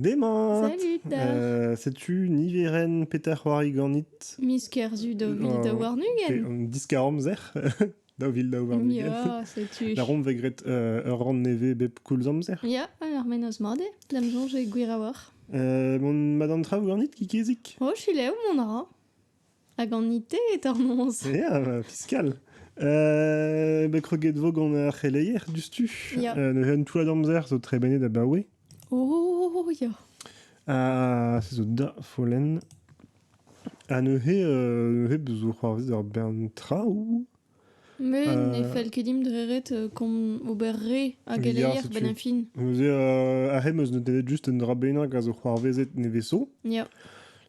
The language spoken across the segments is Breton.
Emañ Salut euh, Setu niverenn Peter c'hoari ganit Miz Kerzu daou vil daou warn-ugent Diskar-amzer Daou vil daou warn-ugent setu Larom vez graet euh, ur rann nevez bep koulz amzer Ya, ur menoz mat eo D'am soñj eo gwir a-walc'h euh, Mon madame traoù ganit, Kikizik Oh, chilev, mon ra Hag an IT est hormoz Yeah, bah, fiscal. Euh, bah, kroget vo gant ar c'heleier dustu. Ya. Euh, neuzen tout l'amzer zo trebenet abaoe. Oh, ya. Ah, se zo da follen. Ha neuze, euh, neuze, bezo c'hoarvez d'ar bern traoù. Mais ne fell ket dimp dre ret komz ober re a geleier a-benn ar fin. Neuze, euh, ar re meus ne devet just un dra bennak a zo c'hoarvezet neveso. Ya.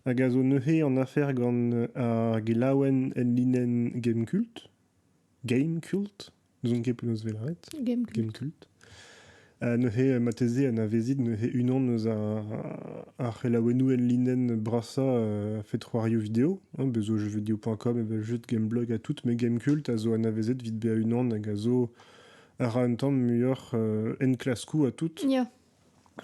Hag a zo neuze an afer gant ar gelaouenn en linenn Gamekult. Gamekult? N'ouzon ket penaos vez lavaret. Gamekult. Gamekult. Neuze, marteze, anavezit neuze unan eus ar c'helaouennoù enlinenn brasañ a fed c'hoarioù video. Bez zo jeuxvideo.com evel just gameblog ha tout, met Gamecult a zo anavezet vit bezañ unan hag a zo a ra un tamm muioc'h enklaskoù ha tout. Ya.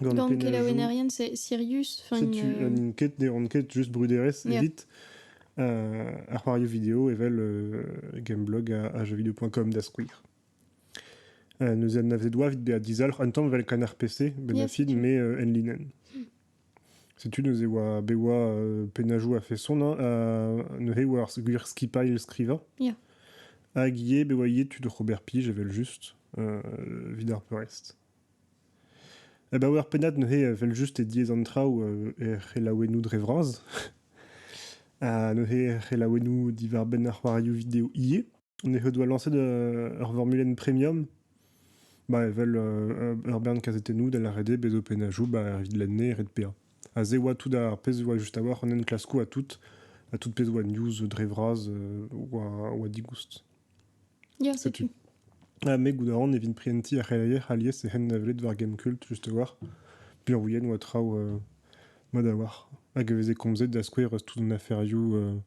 Gant kelaouennerien, c'est Sirius. Setu, n'int ket, ne ran ket just bruderezh evit ar c'hoarioù video evel gameblog ha jeuxvideo.com da skouer. Neuze anavzet oa evit bezañ dizalc'h un tamm evel kanarpese, bennafi me enlinenn. Setu neuze oa bet oa pennajoù a-feson neuze oa ar gwir skipailh skrivañ. Ya. Hag ivez bet oa ivez tud oc'h ober plij evel-just evit ar peurrest. Abaoe ur pennad neuze evel-just eo diaes an traoù er c'helaouennoù dre vras. Ha neuze er c'helaouennoù diwar-benn ar c'hoarioù video ivez. he doit lancer ur formulen premium bah, evel euh, ur bern kazetennoù da lâret bezo penajou bah, evit lenne ret pea. A se oa tout ar pezh oa just a-walc'h an enklaskoù a tout, a tout pezh oa news dre vras euh, oa, oa digoust. Ya, setu. Ah, me gouda an evit prienti ar c'heleier alies e hen navelet war Gamecult just a-walc'h. Pirouien oa traoù euh, mad a-walc'h. Hag e veze komzet da skouer tout an aferioù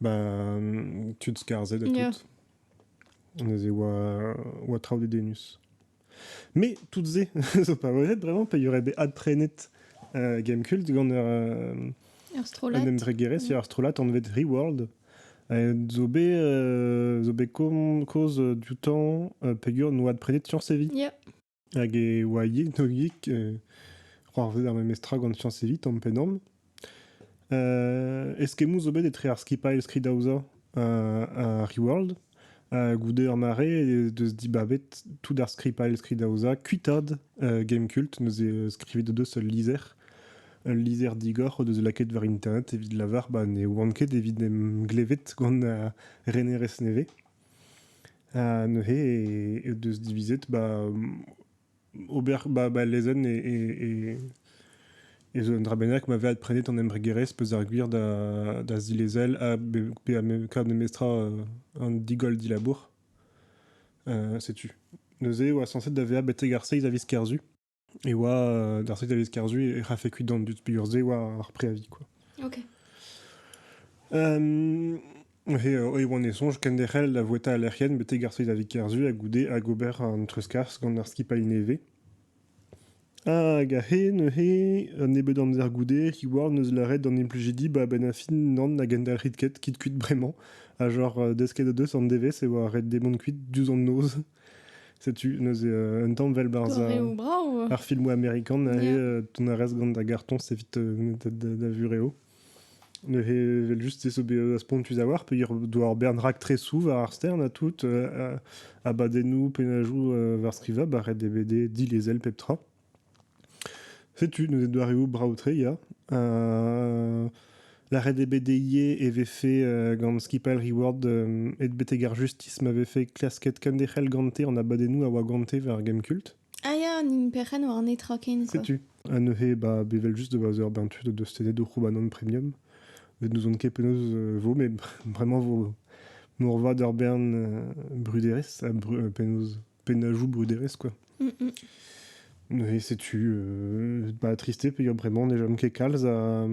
Bah, tud skarzhet ha tout. Neuze oa, oa traoù dedennus. Mais toutes-ces sont pas vraies vraiment, il y aurait des ad trained euh, Gamecult gant ur Astrolate. un emtregere sur Astrolate onvet Reworld. Zo bet euh, zo bet koz du temps pegur nou adprenet sur Séville. Yeah. Hag e oa yegnoldik c'hoarzhet ar memes tra gant Sians Evit tamm pennamm. eskemmoù zo bet etre ar skipailh skridaozañ ha Reworld. goude ur mare ez deus dibabet tout ar skipailh skridaozañ kuitaat Gamecult, neuze skrivit o deus ul lizher. Ul lizher digor o deus lakaet war internet evit lavar ba ne oant ket evit em glevet gant renerezh nevez. Ha neuze e deus divizet ba ober ba ba lezenn e e e zo un dra bennak ma ve adprenet an embregerezh peus ar gwir da da zilezel ha be pe kaout memestra an digoll dilabour. setu. Neuze e oa sañset da vezañ betek ar seiz a viz Kerzu. Et oa, d'ar truc d'aller scarzu, et fait cuit dans du plusieurs oa ar préavis, quoi. Ok. Euh, He oan e sonj kenderc'hel da voueta al lec'hienn betek ar da vikerzhu a goude hag ober an treuzkas gant ar skipailh nevez. Hag a he neuze un nebeud amzer goude, Heward neus lâret d'an implujidi ba ben a fin nan a gendalc'hit ket, kit kuit bremañ, ha genre desket a deus an devezh e oa ret demont kuit diouzh an noz. Setu neuze euh, un tamm vel barz ar, ar filmoù amerikan e euh, ton a rez gant da gartoñs evit euh, da, vureo. Neuze vel just ez bet az pontus avoir pe doa ur bern rak tresou war ar stern a tout a badennoù penajou war skriva ba ret DVD dilezel pep tra. Setu neuze doareoù brav-tre ya. Lâret eo bet dezhi e vefe gant skipailh Reward aet betek ar justis ma vefe klasket kenderc'hel gante an abadennoù a oa gante war Gemkult. Ah ya, an perc'henn war netra ken zo. Setu, ha neuze ba bevel just da eur bern tud o deus tennet o c'houbanon premium. Met n'ouzon ket penaos vo, met vraiment vo moarvat ur bern bruderezh ha penaos pennajoù bruderezh, quoi. Mm, mm. Et setu euh, bah, triste peger bremañ ne jom ket kalz a,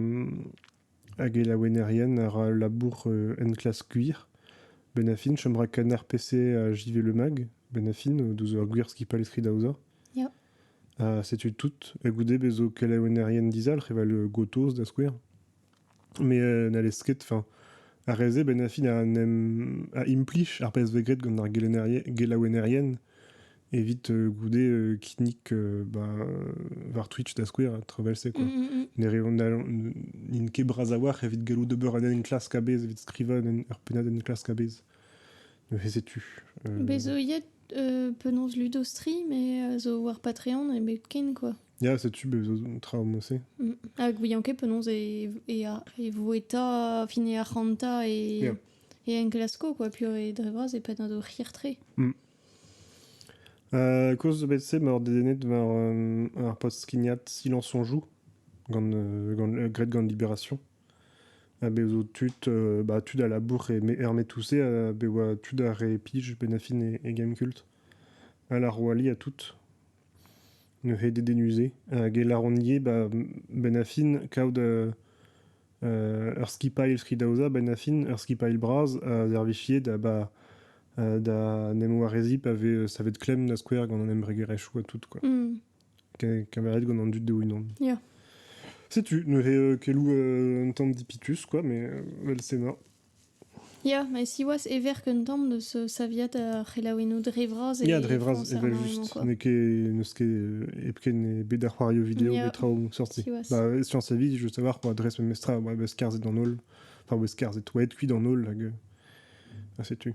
a gelaouennerien ar labour euh, en klas gwir. Benafin, chom ra kan ar PC a JV Le Mag, Benafin, o douz ur gwir skipailh eskri da oza. Ja. Ha setu tout. E goude bezo kelaouennerien dizalc'h evel gotoz da skouer. Mais euh, n'allez ket. Enfin, ar re-se, ben a fin en em a implij ar pezh vez graet gant ar gelennerien- gelaouennerien evit euh, goude euh, kinnig euh, bah, war Twitch da skouer, tro vel-se quoi. Mm, mm, mm. Ne reont- n'allont- n'int ket bras a-walc'h evit gallout ober un enklask a-bezh, evit skrivañ un en- ur pennad enklask a-bezh. Neuze setu. Euh, Bez zo yet euh, penaos Ludostri, mais euh, zo war Patreon, e bet ken quoi. Ya, setu be zo tra mo-se. Mm. Hag ouian ket penaos e, e, e vo eta fin e arc'hanta e, yeah. e enklasko, quoi. Puis e dre vras e penn o c'hirtre. Mm. Euh, Koz bet se ma dedennet war euh, ar post-skignat Silence on joue gant, euh, gant euh, Gred gant Libération. A be zo tud, euh, bah, tud à la bourre et hermé tous a be oa tud à répige, benafin et, et Game Cult. À la Roali à toutes. Neuze dedennus-se a geller hon ivez 'ba benn ar fin kaout ur skipailh skridaozañ benn ar fin, ur skipailh bras a servijie da ba da 'n em wareziñ pa vez savet klemm da skouer gant an embregerezhioù ha tout quoi. Keñveriet gant an dud o-unan. Ya. Setu neuze keloù un tamm dipitus quoi, mais 'vel-se 'mañ. Ya, met siwazh e verk un tamm deus saviad ar c'helaouennoù dre vras e Ya, dre vras, frañs ar evel mare-mañ, juste. quoi. N'eo ket, n'eus ket hepken ebet a c'hoario vidéo Ya, petra omp sorti. siwazh. Bah, science sa vie, je veux savoir, moi, dres memestra, ouais, beus skarzhet d'an holl. Enfin, beus skarzhet, oa aet kuit d'an holl, hag... ah, setu.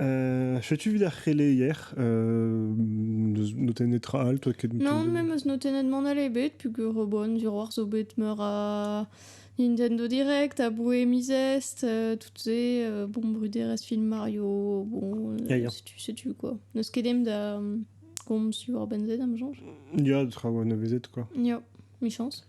Euh, Setu evit ar c'heleier. Euh, n'eus notenn netra all, toi ket Non, mais m'eus notennet mont all ebet, pugur bon, zuroar zo bet meur a Nintendo Direct, a Bohémizest, euh, toutes ces, euh, bon, bruderes film Mario, bon, euh, Ya, ya. setu, setu quoi. N'eus ket dem da euh, komz sur Ben Z, am soñj. Il y a de travaux à quoi. Ya, mi chance.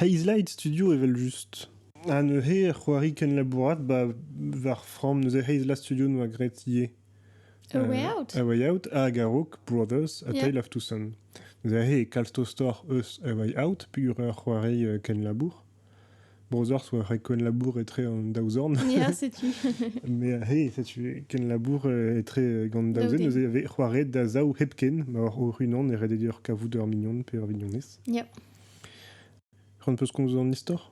Hazelite Studio evel-just. Ha neuze c'hoari kenlabourat ba war framm neuze Hazelite Studio 'noa graet ivez. A Way Out. A Way Out hag a-raok Brothers A Yeah. Tale of Two Sons. Neuze e kalz tostoc'h eus A Way Out peogwir ur c'hoari euh, kenlabour. Brothers oa ur kenlabour etre an daou zorn. Ya, setu. Mais euh, hey, setu kenlabour euh, etre euh, gant daou zen. Daou den. Neuze e avait c'hoaret da zaou hepken ma war hor unan e rededior kavout ur mignon pe ur vignonez. Yep. C'hoant peus komz an istor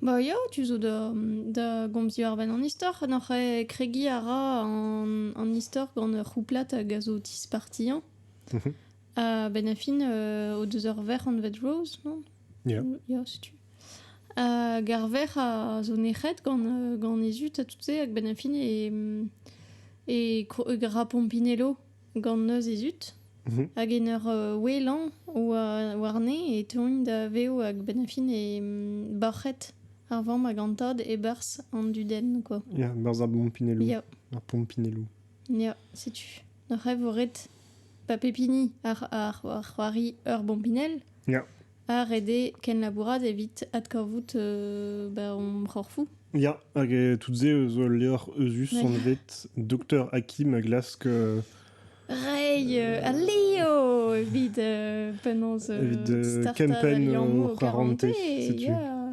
Ba ya, tu zo da, da gomziñ war-benn an istor. N'oc'h kregiñ a ra an, an istor gant ur c'houplad hag a zo tispartiañ. Mhm. Ha benn a fin o deus ur verc'h anvet Rose, non? Ya. Ya, setu. Hag ar verc'h a zo nec'het gant, gant he zud ha tout se, hag benn a fin e, e, e ra Pompinello. gant noz he zud. Mhm. Hag en ur euh, ouelañ war- warne e teuint da vev hag benn-fin e mm, bac'het ar vamm hag an tad e-barzh an dudenn, quoi. Ya, berzh ar Pompinello. Ya, Ar Pompinello. ya, setu. Ar c'hev ret pa pep hini ar, ar, ar c'hoari ur bompinell. Ya. ha ret eo kenlabourat evit adkavout ba hon c'horfoù. Ya, hag eh, tout-se zo ul levr euzhus ouais. anvet Docteur Hakim a glask... Euh, Rei euh, a leo evit euh, penaos euh, Evit euh, Ken Penn o c'harante, setu. Yeah.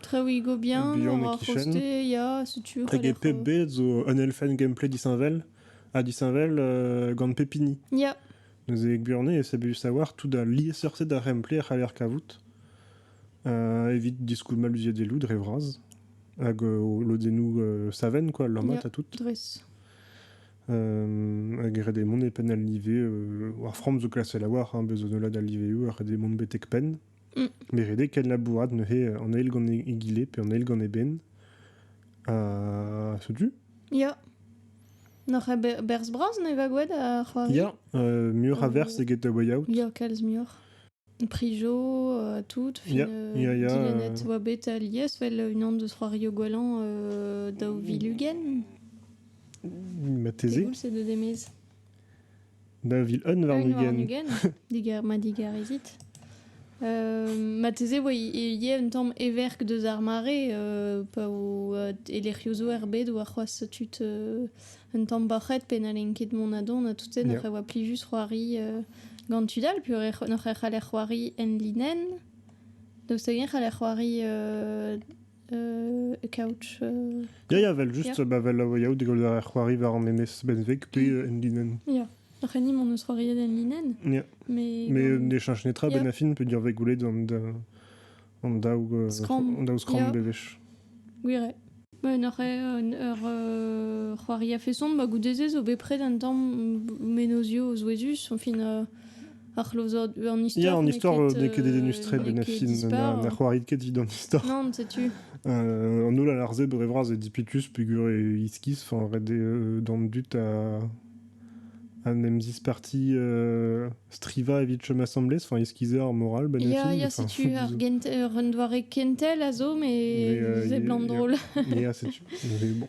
Trewigo bien, Bihan ar c'hoste, ya, setu. Hag e pep bed zo un elfenn gameplay disheñvel, ha disheñvel euh, gant pepini. Ya. Neuze e Burne, c'est bien savoir tout da liesseurset da remplay a c'haller kavout euh, evit diskoulm maluziet e lou dre vras hag euh, lodennoù euh, saven quoi lammat à tout dres euh, hag red e mon e pen al live euh, war from zo klasse la war hein, bezo nola da live ou red e mon betek pen Ne rede ket labourat neuze an eil gant egile pe an eil gant eben. Ha setu. Ya. N'oc'h ket berzh bras ne gagouet ar c'hoari Ya, euh, muioc'h a verz eget a way out. Ya, kalz muioc'h. Prijo, euh, tout. Fin, Ya, euh, ya, ya, dilennet euh. oa bet alies, wel unan deus c'hoario gwalan euh, daou vilugen. Mateze. Degoul c'est de demez. Da vil un warn-ugent. digar, ma digarizit. Euh, mateze oa ie un tamm everk deus ar mare euh, pa o euh, e lec'hiozo er bed oa c'hoazh tud euh, un tamm bac'het pe n'allen ket mont a don ha tout se yeah. oa plijus c'hoari euh, gant tud all pu n'oc'h e c'haller c'hoari en linen daoust hag c'haller c'hoari euh, couch. Ya, ya, vel just, ba vel yaou degol ar c'hoari war an enez benveg pe en linen. Ya. Ac'hani m'on eus c'hoariet en linen. Ya. Mais, Mais euh, d'échange netra, yeah. Benafin peut dire goulet an da an daou an daou skram bevech. Gwire. Ba un eur un eur euh, c'hoari a feson ba goude ze zo bet pred un tamm menozio o zouezus, en fin euh, an histor. Ya, an histor euh, n'eo ket dedennus tre, benefin. Na c'hoarit ket dit an histor. Non, setu. Euh, an holl alarze bere vras e dipitus pugur e iskiz, fin ret eo d'an dut a an em zisparti euh, striva evit chom assemblés, enfin eskizer ar moral, benefin. Ya, ya, setu ar ur doare kentel a zo, mais euh, c'est blanc drôle. ya, setu. bon.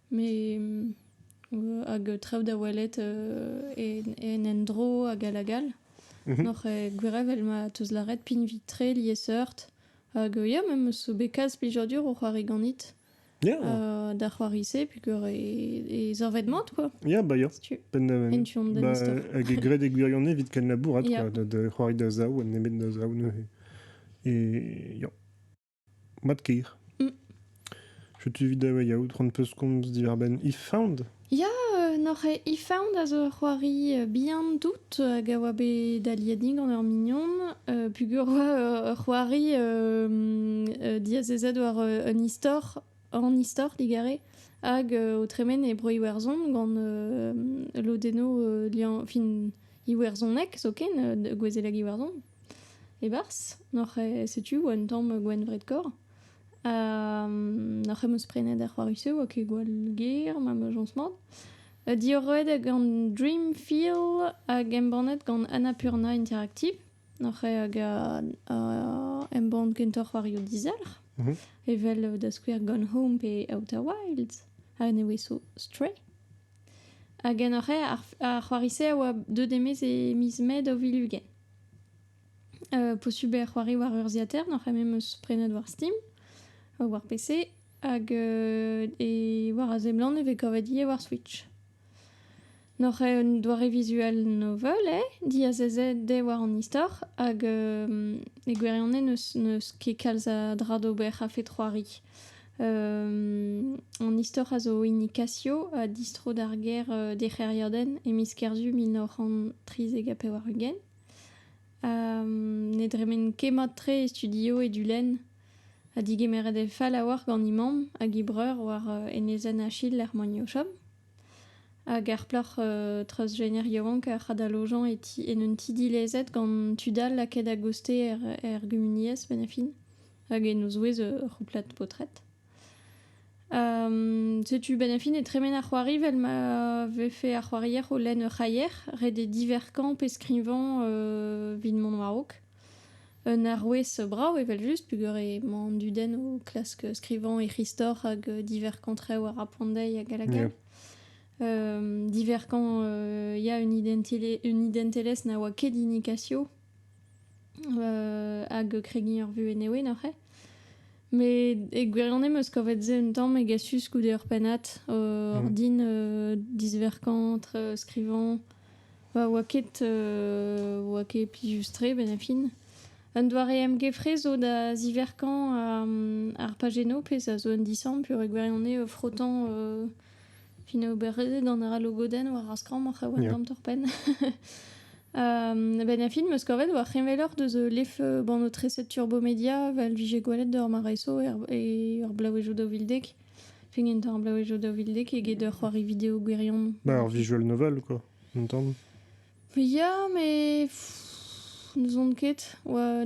Me hag traoù da welet en endro hag all hag all. Mhm. Noc'h eo gwir evel ma 'teus lâret pinvit-tre, liesseurt. Hag ya, me 'meus bet kalz plijadur o c'hoari ganit. Ya. da c'hoari-se peogwir e zorved-mat quoi. Ya, ba ya. En tu an da istor. Hag e graet e gwirione evit kenlabourat quoi, da c'hoari da zaou ha nemet da zaou neuze. E ya. Mat-kaer. Mm. Setu evit da yaout c'hoant peus komz diwar-benn If Found Ya, euh, n'oc'h If Found a zo ur c'hoari euh, bihan tout hag a oa bet aliet gant ur mignon euh, pugur oa ur c'hoari diazezet war un istor an istor digare hag o tremen e bro Iwerzhon gant lodenno fin Iwerzhoneg zoken gwezeleg Iwerzhon E-barzh n'oc'h ket setu un tamm gwenvred-korr ha n'oc'h ket em eus prenet ar c'hoari-se 'oa ket gwall ger ma meujons mat. Diorroet gant Dreamfield hag embannet gant Annapurna Interactive n'oc'h ket hag embann kentoc'h c'hoarioù dizalc'h evel da skouer Gone Home pe Outer Wilds ha ne ouie so Stray. Hag en hoc'h ae ar c'hoari-se a oa deuet e-maez e miz Mae daou vil ugent. Posubl eo c'hoari war urzhiataer, n'oc'h ket memes prenet war Steam, war PC, hag e war a seblant e vez kavet ivez war Switch. N'oc'h ket un doare visual novel eo, diazezet eo war an istor, hag e gwirionez n'eus ket kalz a dra d'ober a-fet c'hoari. an istor a zo hini Casio a distro d'ar gêr euh, d'e c'hêriadenn e miz Kerzu mil nav c'hant trizek ha pevar-ugent. ne dremen ket mat-tre e studio e du lenn ha digemeret e fall a-walc'h gant he mamm hag he breur war euh, enezenn Achille er Magnochom. Hag ar plac'h euh, treuzjener yaouank a c'hadalojan e ti en un ti dilezet gant tud all lakaet a goste er, er gumuniezh, benefin. hag en o zouez ur c'houplad paotred. setu ben a fin e tremen ar c'hoari vel ma vefe ar c'hoarier o lenn ur c'haier ret eo diverkañ pe skrivañ vit mont war-raok. Un arouez brav evel-just peger emañ an dudenn o klask skrivañ e c'histor hag diverkañ traoù a ra poan dezhi hag hag all. Diverkañ ya un identelezh na oa ket hini Casio hag kregiñ ur vuhez newe neuze. Met e gwirionez 'm eus kavet se un tamm egasus goude ur pennad. ordin disverkañt, skrivañ. Pa oa ket oa ket plijus-tre benn-ha-fin. Un doare emgefre zo da ziverkañ ar pajennoù pezh a zo un disamm peogwir e gwirionez frotañ Fin oberezet an ra logodenn war ar skramm ar c'haouenn gant torpenn. ben a fin meus kavet war c'heñveloc'h deus lef banotreset Turbomedia vel vije gwelet d'ur mareso e ur blaouejoù daou vil dek. Fin enta ar blaouejoù daou vil dek eget ur c'hoari video gwirion. Ba ur visual novel quoi, intan? Ya, me n'ouzon ket. Oa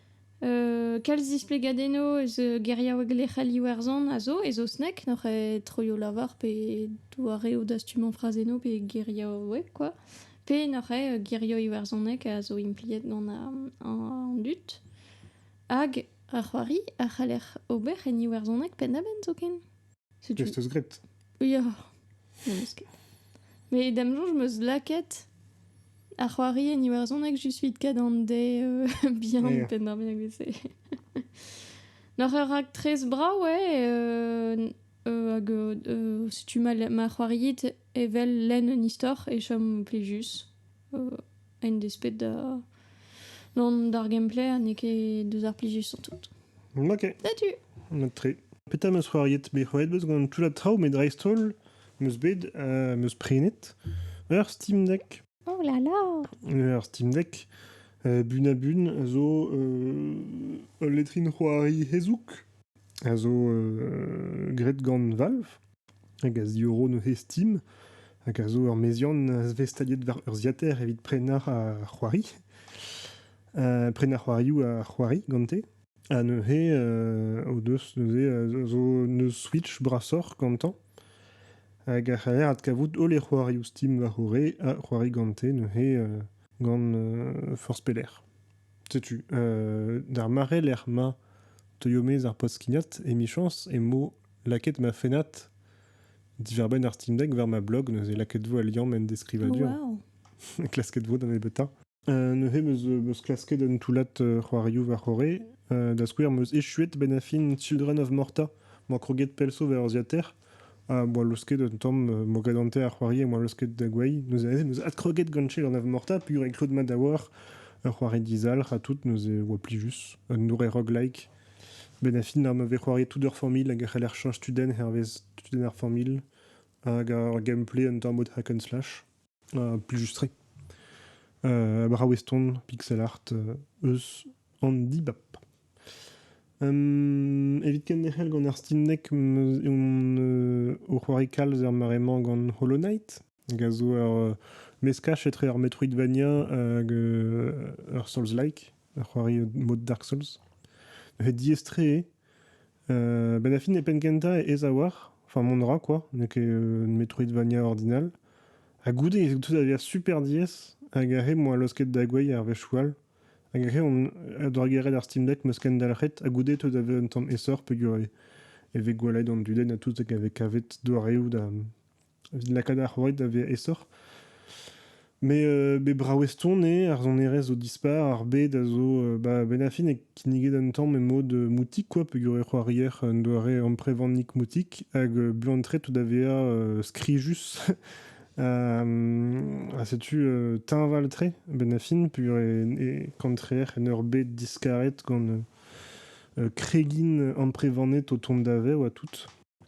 Kalz displegadennoù eus geriaoueg lec'hel Iwerzhon a zo, e saozneg, n'oc'h ket troioù-lavar pe doareoù dastumañ frazennoù pe geriaoueg kwa. Pe n'oc'h ket gerioù iwerzhonek a zo impliet gant an dud. Hag ar c'hoari a c'haller ober en iwerzhoneg penn-da-benn zoken. Qu'est-ce que t'as gratte Ya. Non, mais c'est- Mais dam soñj m'eus lakaet ar c'hoari en iwerzhoneg juste vit kadande euh, bien Yeah. penn-ar-bennak vese. N'oc'h ur raktres brav, ouais, euh, euh, hag euh, euh, setu ma, ma c'hoariit evel lenn un istor e chom plijus. en desped da... d'ar gameplay ha n'eo ket deus ar plijussañ tout. Ok. Setu. Mat-tre. Petra meus c'hoariet bet c'hoariet beus gant tout a traoù met dreist-holl meus bet uh, meus prenet ur Steam Deck. Oh là là! Ur Steam Deck uh, bun a bun a zo uh, ul letrin c'hoari hezouk a zo uh, graet gant Valve. hag a ziorro neuze Steam, hag a zo ur meziant azvestaliet war urzhiataer evit prenañ ar c'hoari. Uh, prenañ ar c'hoarioù a c'hoari gante. Ha neuze, uh, o deus neuze uh, zo neuz Switch brasoc'h gantañ. Hag a c'haller adkavout holl e c'hoarioù Steam war o re ha c'hoari gante neuze uh, gant uh, forzh pelec'h. Setu, euh, d'ar mare lec'h ma teuio mez ar poskignat, emichañs, emañ lakaet ma fennad diwar-benn ar Steam Deck war ma blog, neuze lakaet vo al liamm en deskrivadur. Wow. Klasket vo da nebeuta. Euh, neuze meus meus klasket un toullad euh, c'hoarioù war-c'horre. Euh, da skouer, meus echuet benn ar fin Children of Morta, mañ kroget pell 'so war urzhiataer. Ah, boa laosket un tamm euh, mogadante ar c'hoari e oa laosket da gwei. Neuze aze, neuze adkroget gant-se gant ave morta, pur e klod mat da war ur c'hoari dizalc'h ha tout, neuze oa pli just. Un nourre roguelike. Ben a fin ar ma vez c'hoariet tout ur familh hag e c'haller chañs tudenn hervez tudenn ar familh. Hag ar gameplay un tamm od hack and slash. plijus-tre. braoueston, pixel art eus an dibab. evit kenderc'hel gant ar stinnek on o c'hoari kalz er mare-mañ gant Hollow Knight hag a zo ur meskaj etre ur Metroidvania hag ur Souls-like, ur c'hoari mod Dark Souls. He diaes-tre ben a fin e penn-kentañ aes a-walc'h, enfin mont a ra quoi, n'eo ket un Metroidvania ordinal. Ha goude e tout a via super diaes, hag a-hed mo a laosket da gouezh ar wechou all, hag a-hed on a drugarez ar Steam Deck m'eus kendalc'het, ha goude tout a vez un tamm aesoc'h peogwir e vez gwallet an dudenn ha tout hag a vez kavet doareoù da evit lakaat ar c'houarn da vezañ aesoc'h. Met euh, bet brav-eston eo ar sonerezh zo dispar, ar bed a zo euh, bah, benn ar fin e kinniget un tamm emod euh, moutik quoi, peogwir e c'hoarier un doare amprevannik moutik, hag euh, buan-tre tout da vezañ euh, skrijus. ha setu euh, teñval-tre benn ar fin, peogwir e, e kantreer en ur bed diskaret gant euh, kregin amprevanet o tont da vezañ oa tout.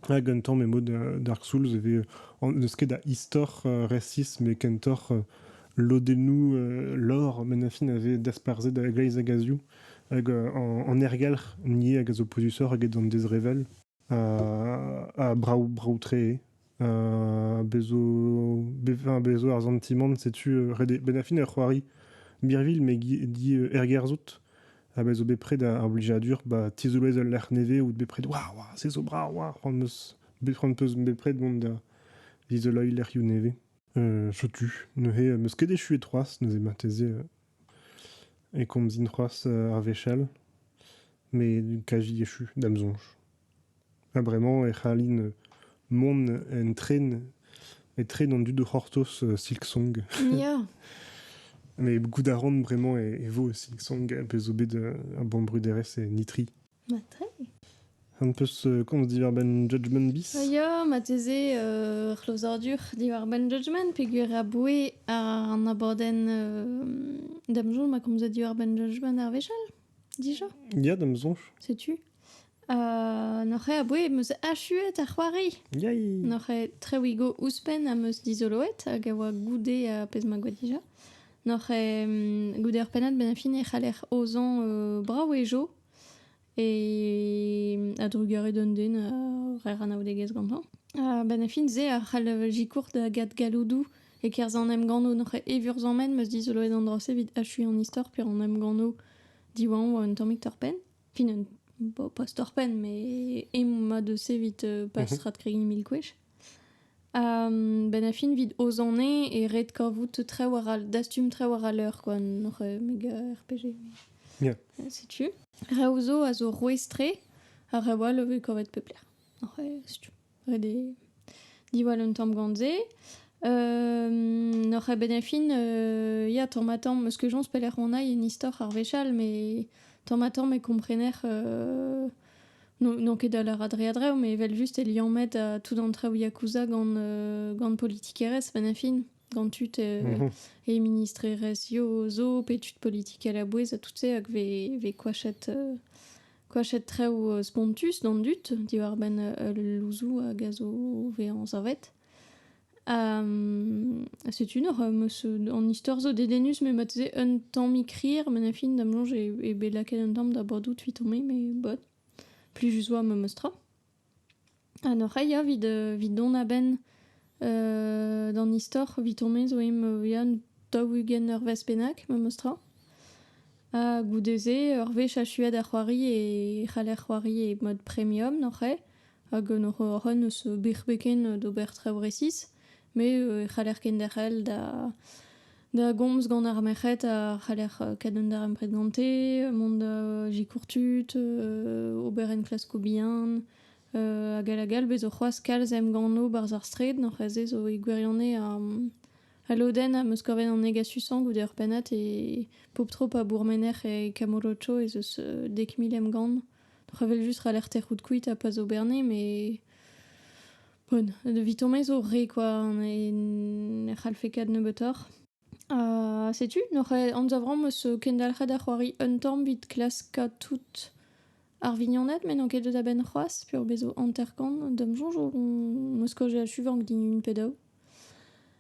Ha gantañ emaout Dark Souls e vez n'eus ket a istor resis met kentoc'h lodennoù lore Menachin a vez dasparzhet a-gleiz hag a-zioù hag an ergelc'h ivez hag a zo pouezusoc'h eget an dezrevell ha brav brav-tre eo. Bez' zo bez' zo ar santimant setu ret eo. Menachin eo c'hoari birvilh met ergerzhout. ha me zo bepred ar blijadur ba tizolez ul lec'h nevez out bepred waouh waouh se zo brav waouh c'hoant 'meus c'hoant 'peus bepred mont da dizoloiñ lec'hioù nevez euh, chotu neuze 'meus ket echuet c'hoazh neuze marteze e komzin c'hoazh ar wechall mais kaji echu da'm soñj Ha bremañ e c'hallin mont en tren etre an dud o c'hortoz Silksong. Ya. Mais goût a ran bremañ e, e vo Silksong, a pezh zo bet ur bannbruderezh e Nitri. Ma très. An peus komz diwar-benn Judgment Bis? Ah ya, marteze euh, c'hlozadur diwar-benn Judgment peogwir aboue an abadenn euh, Damzon ma komzet diwar-benn Judgment ar wechall, dija? Ya, da'm soñj. Setu. Noc'h eo abouez em eus achuet ar c'hoari. Yay! Noc'h eo trewigo ouzhpenn am eus dizoloet hag a oa goude ar pezh ma gouez dija. Noc'h eo goude ur pennad bennafi e c'haller aozañ brav e jeu e a-drugarez d'un den a rer anaoudegezh gantañ. Ha bennafin-se a c'hall sikour da gad galloudoù e-kerzh an emgannoù. Noc'h eo evurzamment em eus dizoloet an dra-se evit achuiñ an istor pe an emgannoù diwañ un tammig torr-penn. Fin un pas torr-penn, mais emañ deus evit euh, pas mhm. strat-kregiñ mil gwech. Um, ben a fin vid o zone e red kavout traoù war al dastum traoù war al leur quoi nor euh, meg euh, RPG yeah. setu reoù zo a zo rouestre ha reoù all o vez kavet pep lec'h oc'h setu Ret eo diwall un tamm gant se. N'oc'h ket bet en fin ya tamm-ha-tamm, meus ket soñj pelec'h on aï en istor ar wech all, mais tamm-ha-tamm e komprener n'on ket da lâr a-dreñv-a-dreñv, mais evel-just e liammet tout an traoù yakuza gant politikerezh 'ven en fin, gant tud e ministrerezh zo, pe tud politikel a-bouez ha tout se hag 'vez koachet koachet traoù spontus d'an dud diwar-benn ul louzoù a gaz o vezañ savet. Ha setu nor, an istor zo dedennus, met marteze un tammig rir, met a fin da'm soñj eo bet lakaet un tamm da bodout 'vit on me, mais bon, plus juste 'oa memes tra. Ha n'oc'h ket ya evit evit dont a-benn d'an istor evit honnezh zo emp yan daou-ugent eurvezh bennak memes tra. Ha goude-se ur wech achuet ar c'hoari e c'haller c'hoari e mod premium n'oc'h ket hag n'oc'h hoc'h eus bec'h-beken d'ober traoù resis. Me e c'haller kenderc'hel da da gomz gant ar merc'hed a c'haller kadout an darempred gante, mont da sikour tud, ober enklaskoù bihan, hag all hag all. Bez' zo c'hoazh kalz emganno 'barzh ar straed, n'hor c'hwezh-se zo e gwirionez al lodenn am eus kavet an negasusañ goude ur pennad e pop-tro pa bourmener e Camorocho ez eus dek mil emgann. Oc'h evel just 'c'haller tec'hout kuit ha pas ober 'nez, met Bon, evitomañ zo re, quoi. Ne, ne c'hallfe ket nebeutoc'h. Ha setu, n'oc'h anzavramp eus kendalc'het a c'hoari un tamm evit klaskañ tout ar vignoned, met n'on ket deus a-benn c'hoazh, peoc'h bezo hanter-kant. D'am soñj on- 'm eus kaozeet suvank din une pe daou.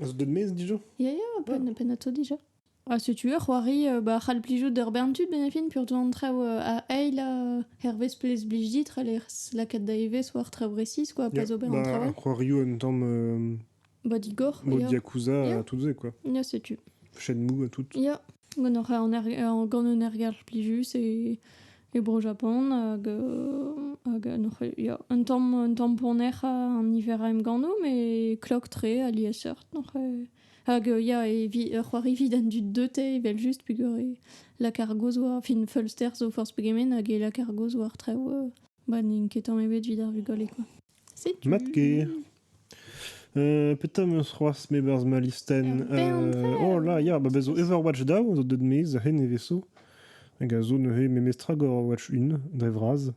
Az deus maez dija Ya, ya, penn, pennato dija. Ah, si tu veux, c'hoari, euh, bah, c'hall plijout d'ur bern tud, benefin, pur an traoù euh, a eil euh, hervez plez blij dit, ral er lakat da evezh war traoù resis, quoi, pa zo ben an traoù. Bah, c'hoarioù un tamm euh, Bah, digor. mod ya. yakuza Yeah. à tout ze, quoi. Ya, setu. Shenmue à tout. Ya, Gant hoc'h eur- gant un ergelc'h plijus e e Bro-Japan hag hag noc'h ya un tamm un tamm ponec'h an niver a emgannoù met klok-tre aliesseurt noc'h hag ya evit c'hoari evit an dud deute evel-just peogwir e lakaer gozh war fin feulster zo forzh pegement hag e lakaer gozh war traoù ba n'int ket tamm ebet evit ar vugale quoi. Setu. Mat ker. petra am eus c'hoazh me berzh ma listenn Euh, oh là, ya, ba bez zo Overwatch daou zo deut maez a hen eveso hag a zo neuze memestra gor Overwatch 1 dre vras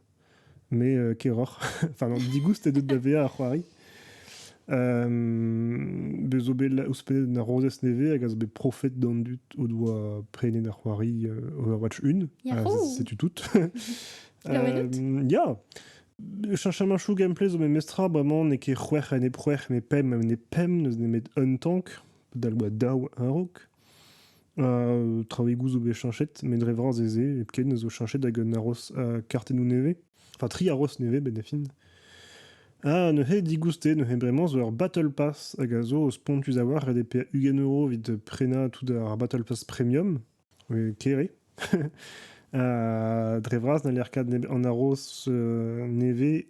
mais euh, keroc'h enfin non digoust eo deut da vezañ ar c'hoari Euh, bez zo bet ouzhpenn ar rozez nevez hag a zo bet profet d'an dud o doa prenet ar c'hoari euh, Overwatch 1 ha Yahoo! setu tout Ah ouais, Euh, ya Cheñchamachoù gameplay zo memestra bremañ n'eo ket c'hwec'h ha nep c'hwec'h met pemp ha nep pemp n'eus nemet un tank padal oa daou a-raok. Traoùigoù zo bet cheñchet met dre vras ez eo hepken zo cheñchet hag un aros kartennoù nevez enfin tri aros nevez benn da fin. Ha neuze digoustet neuze bremañ zo ur battle pass hag a zo spontus a-walc'h ret eo paeañ ugent euro evit prenañ tout ar battle pass premium. Kere. dre vras n'haller ket an aroz nevez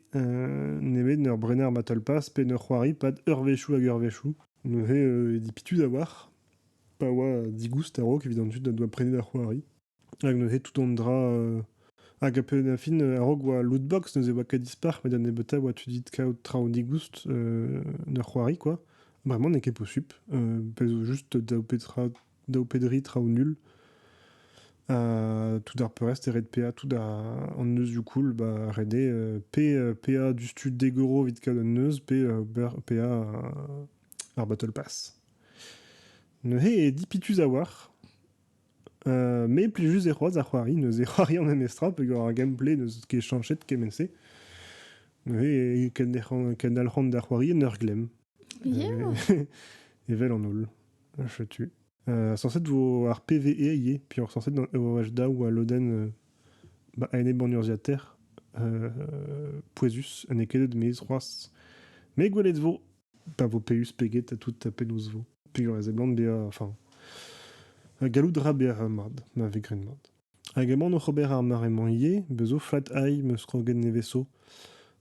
nemet en ur brenañ ur battle-pass pe en ur c'hoari pad eurvezhioù hag eurvezhioù. Neuze e dit pitu da war pa oa digoust a-raok evit an tud o doa prenet ar c'hoari. Hag neuze tout an dra... hag a pen a fin a-raok oa lootbox neuze oa ket dispar met da nebeutañ oa tu dit kaout traoù digoust d'ur c'hoari quoi. Bremañ n'eo ket posupl pezh zo just daou petra daou pe dri traoù nul. tout ar peurrest e red PA tout an neuzioù cool ba ret eo PA du stud Degoro evit kaout an neuz pe PA ar Battle Pass. Neuze e di pitus a-walc'h. me plijus e c'hoaz ar c'hoari, neuze c'hoari an memes tra peger ar gameplay n'eus ket chanchet kement-se. Neuze kendalc'han da c'hoari en ur glemm. Evel an holl. Chetu. Euh, censé vo ar PVE ivez, puis censé au HDA ou à l'Oden euh, ba ene bon urziater euh, pouezus ne kedet mez c'hoaz. Me gwelet vo pa vo peus peget a tout a penaos vo. Pigur ez eblant be enfin gallout ra ber mad, ma ve gren mad. Hag emaon oc'h ober ar mare-mañ ivez. Bez 'zo Flat Eye, 'm eus kroget nevez 'zo,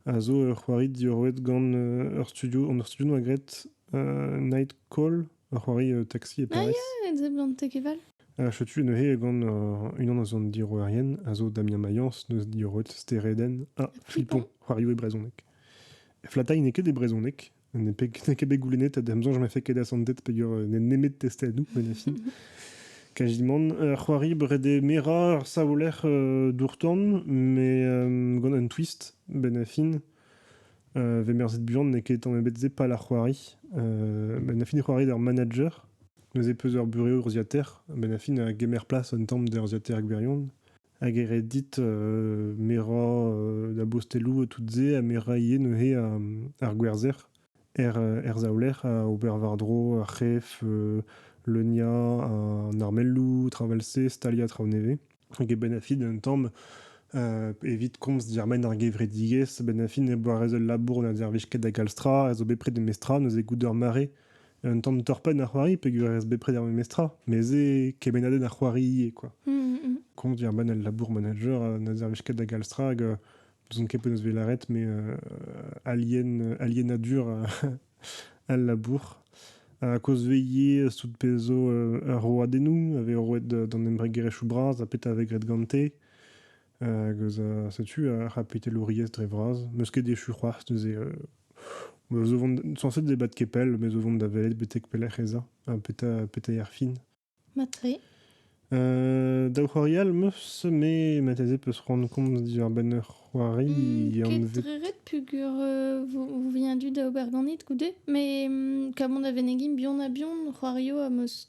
a zo ur c'hoari diorroet gant euh, ur studio, an ur studio 'noa graet euh, Night Call, ur c'hoari euh, taxi e Ah Paris. ya, et zeblant Tekeval. Ha setu neuze gant euh, unan eus an diorroerien, a zo Damien Mayence, neus diorroet Stereden ha Flipon, Flippon. c'hoarioù e brezhoneg. Flat Eye n'est que des brezhoneg, N'en ket bet goulennet, da amzer, je m'ai fait qu'aider à son tête peger n'en nemet tester à nous, mais la fille. Kajimon. Ur c'hoari brede mera ar savoler euh, dourtan, mais euh, gant un twist, ben a fin. Euh, vemerzet buan n'e ket tamm ebet ze pal ar c'hoari. Euh, ben a fin e c'hoari d'ar manager, neuze peus ur bure urziater, ben a fin a gemer plas un tamm d'ur ziater gwirion. Hag e red dit merañ da bosteloù tout-se ha merañ ivez neuze ar gwerzher er saouler ha ober war-dro ar c'hef, leuniañ an armelloù tra 'vel-se, staliañ traoù nevez. Hag e-benn a fin un tamm, evit komz dermen ar gevredigezh, a-benn a fin e boa ret ul labour na dervez ket da galz tra, a zo bet prest da mesk tra neuze goude ur mare. un tamm torpenn a c'hoari peogwir ez bepred ar memes tra, mais c'est kemennadenn a c'hoari ivez, quoi. Mm, mm, mm. Compte, il ben, le labour manager, euh, n'a zerveshket da galstrag, euh, besoin ket penaos velaret, mais euh, alien, alienadur euh, al labour. A koz veilhe sout pezo euh, ur roadennoù, ave roet d'an embregerezhioù bras, a peta ave gret gante. Hag eus a setu ar c'hapitelouriezh dre vras. N'eus ket echu c'hoazh neuze. Euh, zo vont censé débattre képel, mais zo vont da velet betek pelec'h ez a, ha petra, petra ar fin. Matre. Euh, daou c'hoarial meus, me mateze peus rendre compte diwar-benn ur c'hoari hmm, anvet... Ketreret pugur euh, vous vient du da ober ganit goude, mais mm, kam on da venegin bion a bion c'hoario a meus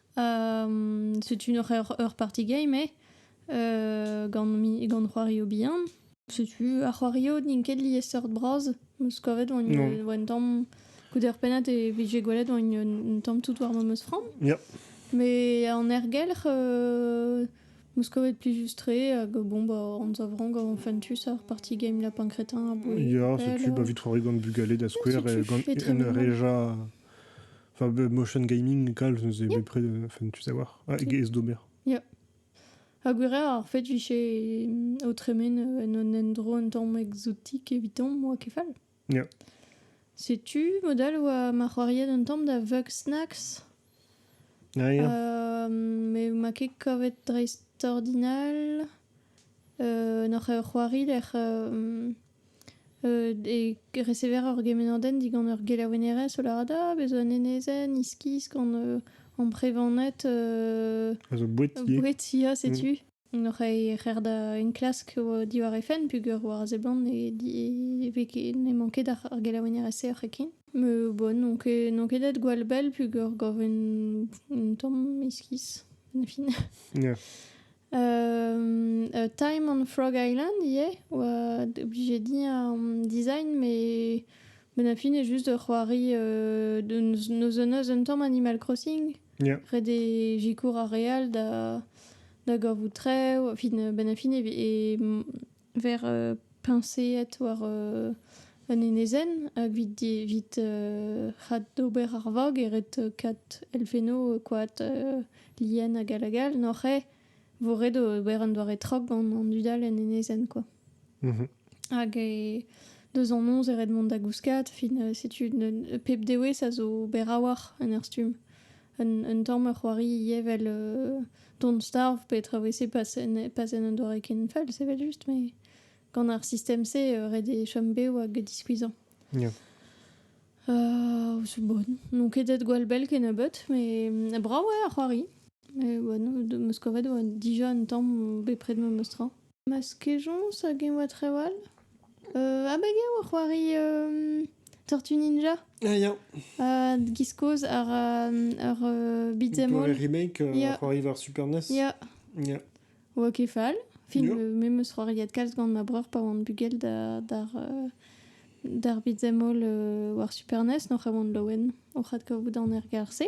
Setu noc'h ur party game eo gant c'hoario bihan. Setu ar c'hoario n'int ket liesseurt bras. 'm eus kavet un tamm goude ur pennad e vije gwelet un tamm tout war ma meus framm. Mais en aergelc'h, 'm eus kavet plijus-tre hag bon bah anzav ran gant fentus ar party game lapin-crétin aboie. Ya, setu bah 'vit c'hoari gant bugale da skouer, gant un reja... Enfin, motion gaming, calve, neuze bepred, enfin, tu sais voir. Ah, et Domer. Ya. Ha gwir eo, ar fed vije mm, o tremen euh, en un endro un tamm exotik evitomp oa kefal. Ya. Setu modal oa ma c'hoariet un tamm da Vug Snacks. Ah, ya. Euh, me ma ket kavet dreist ordinal. Euh, noc'h ur c'hoari lec'h euh, E resever ur gemennadenn digant ur gelaouennerez ho lâret ah bez zo un enezenn iskis gant amprevaned A zo boued ti. boued ya setu. Hoc'h eus rec'h da enklask diwar he fenn peogwir war a seblant ne di- e vez ket- n'emañ ket ar ar gelaouennerez-se oc'hekint. Mais bon, n'on ket n'on ket aet gwall bell peogwir gav un un tamm iskis en fin. Ya. Time on Frog Island ivez, oa obligé din an design, mais ben a fin eo just ur c'hoari euh, deus neus un eus un tamm Animal Crossing. Yeah. Ret eo sikour ar re all da da gavout trev. Fin, ben a fin e, e Ver peñseet war un enezenn hag evit c'hat d'ober ar vag e ret kat elfennoù koad lien hag all hag all n'oc'h eo vo ret ober un doare trok gant an dud all en enezenn kwa. Hag deus an noz e ret mont da gouskat fin setu pep dewezh a zo ober a-walc'h en ur stumm. Un tamm c'hoari ivez evel Don't Starve petra eo c'est pas en un doare ken fall, c'est evel juste, mais gant ar sistem-se ret eo chom bev hag diskuizhañ. Yeah. Euh, c'est bonne. Donc, edet gwall bell ken a but, mais euh, bravo ar c'hoari. Et, bon, de me scoret dija un tamm bepred me meustra. Ma skejons hag eñ oa trawal. abeg eo o c'hoari Tortue Ninja Ah ya ha giz kozh ar ar beat'em all. Le remake, Ya. ar c'hoari war Super NES. Ya Ya. oa ket fall. Fin, Ya. euh, me 'meus c'hoariet kalz gant ma breur pa oan bugel da- d'ar euh, d'ar beat'em all euh, war Super NES, noc'h a oan laouen oc'h adkavout an ergerzh-se.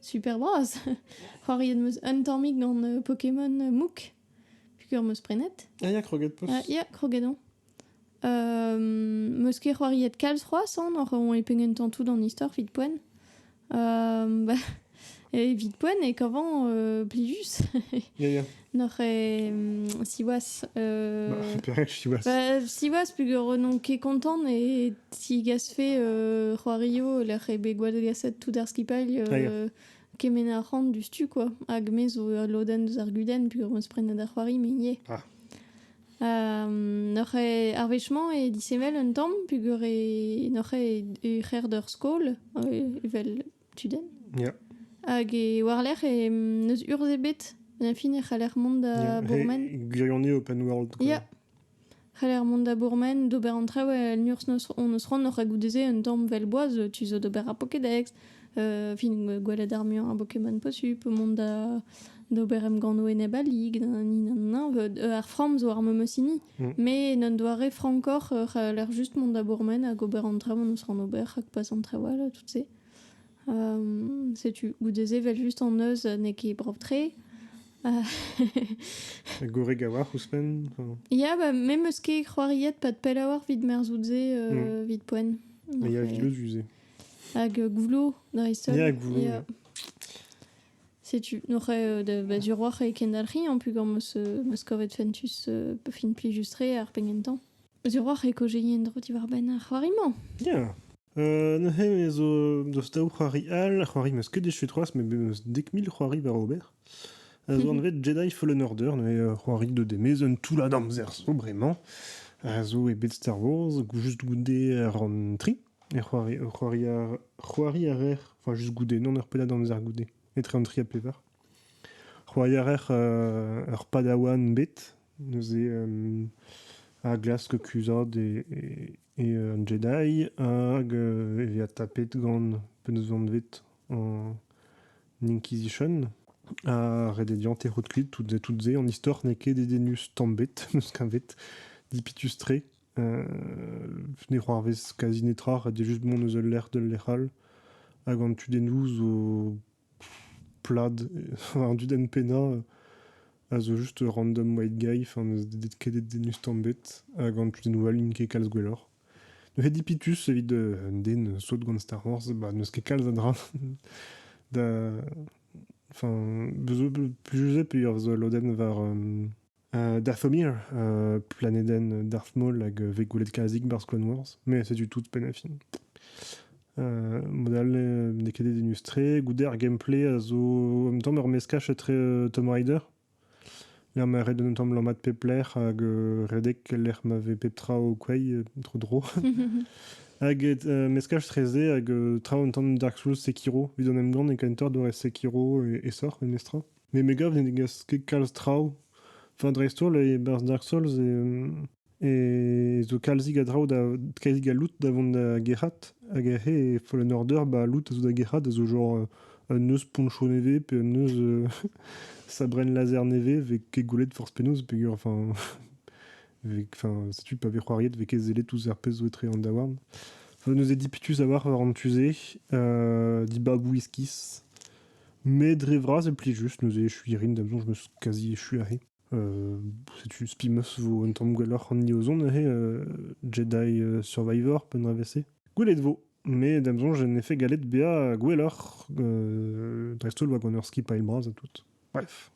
Super bras! C'hoariet 'm eus un tammig gant euh, Pokémon euh, Mouk, puisqu'ur 'm eus prenet. Ah ya, kroget poz. Ah, ya, kroget on. Euh, 'm eus ket c'hoariet kalz c'hoazh an, oc'h on e pegen tantoud an istor vit poen. Euh, bah, evit poen e kavan euh, plijus. Ya, ya. Noc'h siwaz. Euh... siwaz. Bah, siwaz, pugur non ket kontant et si gasfe euh, c'hoario lec'h e bet gwallgaset tout ar skipailh euh, kemen ar rant du stu quoi. Hag me zo al loden deus ar guden pugur meus prenet ar c'hoari me ie. Ah. Um, noc'h e ar vechement e disevel un tamm pugur e noc'h e ur c'her d'ur skol evel tudenn. Yeah. Hag e war-lerc'h e n'eus urzh ebet. En fin e c'haller mont da yeah. Bourmen. Gwirion eo open world. Quoi. Yeah. C'haller mont da Bourmen, d'ober an traoù el nurzh on eus c'hoant oc'h goude-se un tamm vel boaz, tu zo d'ober ar Pokédex, euh, fin gwelet ar muiañ a Pokémon posupl, mont da D'ober emgannoù enep a lig, ar framm zo ar memes hini, mm. mais un doare frankoc'h, a l'air juste mont da bourmen hag ober an traoù on eus ran ober, hag pas an traoù all, tout se. Um, setu, goude-se, vel just an eus n'eo ket brav-tre. Goreg a-walc'h ouzhpenn Ya, ba, me meus ket c'hoariet pas de pell a-walc'h vit merzout-se euh, mm. vit poen. Il y a Goulouz Hag euh, Gouloù, dreist-holl. Il y a Gouloù, yeah. Setu, oc'h euh, da baduroc'h e kendalc'hi an pugor meus euh, meus kavet fentus euh, fin plijus-tre ar pegentañ. Baduroc'h e kojei en-dro diwar-benn ar c'hoari-mañ. Ya. Euh, neuze me zo deus daou c'hoari all. Ar c'hoari meus ket dechu c'hoazh, met meus dek mil c'hoari war ober. A zo anvet Jedi Fallen Order, neuze ur c'hoari de demez un toullad amzer zo bremañ. A zo e bed Star Wars, juste goude ar an tri. E c'hoari, c'hoari a, c'hoari a raer, enfin just goude, non ur pennad amzer goude, etre an tri ha pevar. C'hoari a raer euh, ur padawan bet, neuze euh, ar glask kuzhat e, e, e an Jedi, hag euh, e vezañ tapet gant penaos vanvet an Inquisition. Ha ret eo dezhañ terout kuit tout, tout se. An istor n'eo ket dedennus tamm bet, neus kavet, dipitus-tre. ne c'hoarvez kazi netra, ret eo just mont eus ul lec'h d'ul lec'h all. Hag an tudennoù zo plad. An dudenn pennañ a zo just ur random white guy, enfin n'eus ket e denus tamm bet. Hag an tudennoù all int ket kalz gwelloc'h. N'eo ket dipitus evit un den sot gant Star Wars, bah, n'eus ket kalz a dra da... Enfin, plij eus eo p'eo ur lodenn war... Dathomir, planedenn Darth Maul hag vez gwelet kalzik barzh Clone Wars, mais c'est du tout penafin. mod all n'eo ket dedennus-tre. Goude ar gameplay a zo en même temps ur meskaj etre Tomb Raider, lec'h ma red un tamm lammat pep lec'h hag redek lec'h ma vez pep tra o kwei, tro dro. hag meskaj treze hag tra un tamm Dark Souls Sekiro. Evit an emgann e Kaintor doare Sekiro e esor, memestra. met me gav ne gas ket kalz traoù. Enfin dreist-holl e-barzh Dark Souls e zo kalzig a draoù da kalzig a loot da vont da gerc'hat. Hag e Fallen Order ba loot a zo da gerc'hat a zo genre un neuz poncho nevez pe un neuz sabrenn laser nevez vez ket goulet forzh penaos peger enfin setu pa vez c'hoariet vez ket sellet ouzh ar pezh zo etre an daouarn. Neuze dipitus a-walc'h war an tu-se, dibabou iskis. Met dre vras e plij just neuze echuiñ a rin da'm soñj 'm eus kazi echu aze. setu spi 'm eus 'vo un tamm gwelloc'h an hini o zont aze Jedi Survivor pe un dravezh-se. Gwelet 'vo met da'm soñj en efed gallet bezañ gwelloc'h dreist-holl war gant ur skipailh bras ha tout. Bref.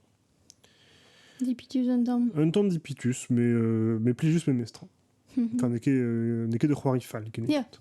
Dipitus un tamm. Un tamm dipitus, mais, mais plij just memestra. n'eo ket ur c'hoari fall kennebeut.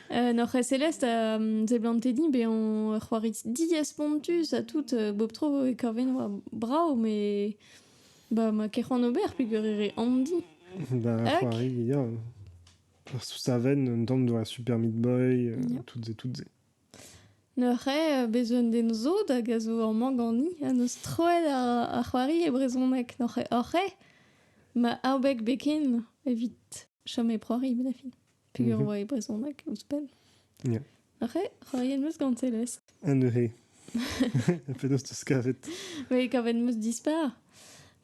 En hor Celeste, euh, seblantet dit, be on c'hoari diaspontus a tout euh, bob tro e korven war brao, mais ba ma ket c'hoant ober peger ere andi. Ba c'hoari, ya. Sous sa veine, un temps de la Super Meat Boy, euh, Yeah. toutes et toutes et. Neuze, bez un den zo hag a zo amañ gani, a neus troet ar, ar c'hoari e brezhonek noc'he oc'he, ma aobek beken evit chom e proari, ben a fin. Peger oa e brezhoneg, ouzhpenn yeah. Arre, c'hoariet meus gant Celeste. Un eure. Penaos teus kavet Oui, kavet meus dispar.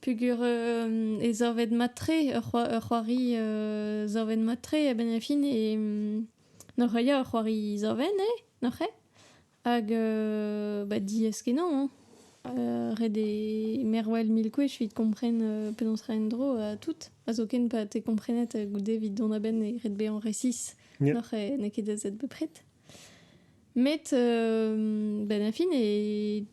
Peger euh, e zorvet matre, ur c'hoari euh, zorvet matre a ben fin e... Nor ea ur c'hoari zorven, eh? Nor Hag euh, bah, diaez-kenañ, hein. Euh, ret eo mervel mil gwech evit kompren euh, penaos ra en-dro ha tout. Ha zoken pa te komprenet euh, goude evit dont a-benn e ret bezañ resis. Yeah. N'oc'h eh, n'eo ket aet bepred. Met, euh, ben, fin, e,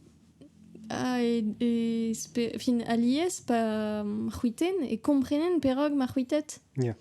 a, e, e, spe- fin, alies pa mm, c'hwiten e komprenen perak ma c'hwitet. Yeah.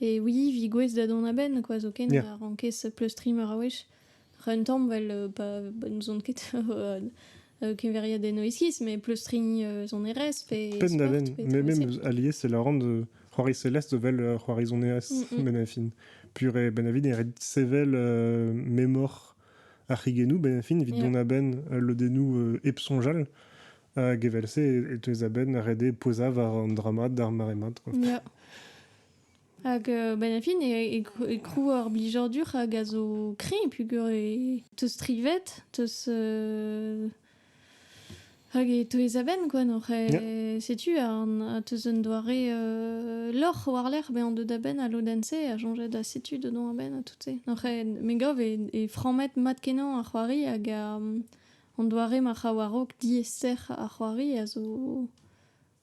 Et oui, vigouez da dont a-benn, quoi, zoken Yeah. a rankez pleustriñ meur a wech. Un tamm, vel, euh, pa n'ouzon ket euh, euh, keveriadenno iskis, mais pleustriñ euh, son RS pe Penn da sport, ben, pe mais même tricycle. alies e lavaran de c'hoari Celeste de vel euh, c'hoari son RS Mm, mm. ben a fin. Pur e ben a vit e ret sevel euh, memor ar c'higenou ben a fin evit Yeah. dont a-benn euh, lodennoù euh, hep soñjal. Hag evel-se e teues a-benn ret eo pouezañ war an dra-mat d'ar mare-mat. Quoi. Yeah. Hag euh, ben, a fin e, e, krou ar blijadur hag a zo kreñv pugur e teus strivet, teus... Euh, hag e teues a-benn quoi nor yeah. setu un, teus un doare euh, lorc'h war-lerc'h ben on deus da benn a lodenn-se a soñjet da setu dedon a-benn a tout-se nor me gav e, e framet mat kenañ ar c'hoari hag a, An doare ma c'raou a-raok diaes-serr ar c'hoari a zo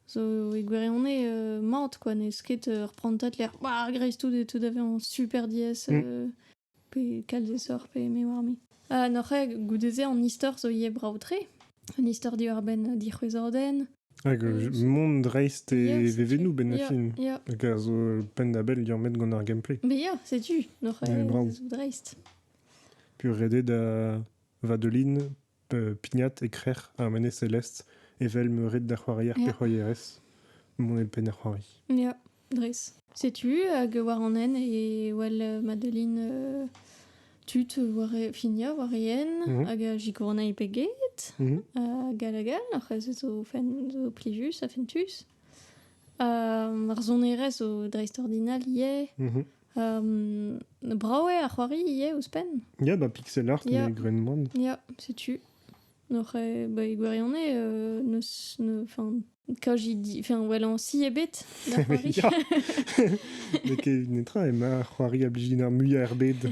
zo e gwirionez mat kwa, n'eus ket ur prantad lec'h greiztoud eo tout a vezañ super diaes pe kalzesoc'h pe me oar-me. Noc'hañ goude-se an istor zo ivez brav-tre, un istor diwar-benn dic'hwezhadenn. Hag mont dreist e vevennoù 'benn ar fin. Ya. Hag a zo penn-da-bell liammet gant ar gameplay. Be ya, setu, noc'hañ zo dreist. Peus ret eo da Vadelin, pignat e-krec'h ar menez Celest evel meuret da c'hoarier pe c'hoarierez mont e penn ar c'hoari. Ya, dres. Setu hag war an hent e wel Madeline euh, tud war e, finia war e hent mhm. hag a sikour anezhi pe get. Mhm. Ha galagal, hoc'h eus zo, fen, zo plijus ha fentus. ar sonerezh zo dreistordinal ivez. Mhm. brav eo ar c'hoari ivez ouzhpenn. Ya, bah, pixel art yeah. gren moan. Ya, setu. Noc'h e ba, e gwirionez, euh, neus, ne, enfin, quand j'y dis, enfin, voilà, en si ebet, la c'hoari. Mais que netra, e ma c'hoari a bliginar mui ar bed.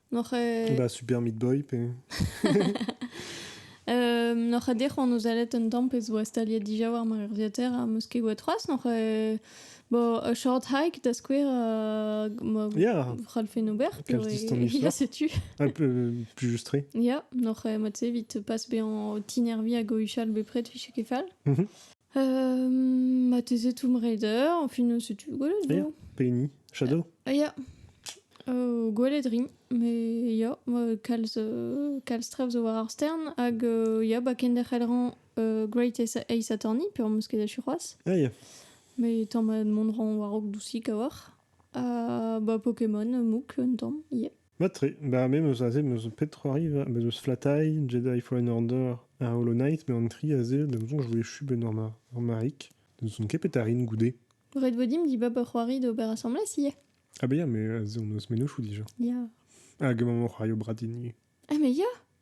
Noc'h eo... Bah, Super Meat Boy, pe... Euh, Noc'h eo dec'h oan o zalet un tamm pezh oa staliet dija war ma urziater ha meus ket gwet c'hoazh. Noc'h eo... Bo, a short hike, da skouer, uh, ma yeah. c'hallfen ober. Ya, setu. Un peu euh, plus justré. Ya, noc'h eo mat-se evit pas bezañ o tinervi hag o huchal bepred, fiche ket fall. Mhm. Mateze Tomb Raider, enfin, c'est tu Gwaeled, non Penny, Shadow Ah, ya. Euh, Gwaeledrin, mais ya, euh, kalz, euh, kalz tra zo war ar stern, hag euh, ya, ba kenderc'hel euh, Great Ace Attorney, pe am eus ket achu c'hoazh, Ah, ya. mais tamm mont ran war-raok dousik a-walc'h. Ha bah Pokémon, Mouk, un tamm, yeah. Mat-tre. Ba me 'm eus aze 'm eus pet c'hoariva. Bez' eus Flatai, Jedi Fallen Order ha Hollow Knight, met an tri aze, da ma soñj, e voe echu 'benn ur ma- ur marig. Ne soñj ket bet a rin goude. Red Wedding dimp dibab ur c'hoari d'ober asambles ivez. Ah ben ya, mais aze hon eus mennozhioù dija. Ya. Hag emaomp o c'hoario bradin ivez. Ah mais ya!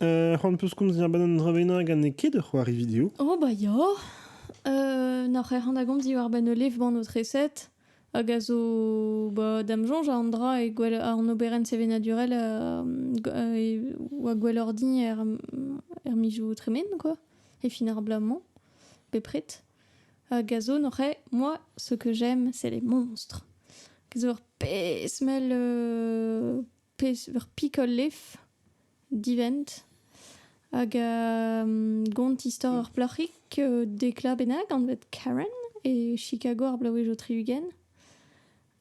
c'hoant peus komz a-benn an dra bennañ hag n'eo ket ur c'hoari video Oh bah ya euh, Noc'h ec'h an da gomz diwar-benn ul levban o treset hag a zo bah, da'm soñj an dra e gwell an oberenn sevenadurel euh, oa gwelloc'h din er, er mizoù tremen quoi e fin ar bloaz-mañ bepred hag a zo noc'h moi ce que j'aime c'est les monstres a zo ur pezh mell euh, pezh ur pikol lef divent hag um, gont istor ur plac'hig uh, dekla bennak anvet Karen e Chicago ar bloavezh o tri-ugent.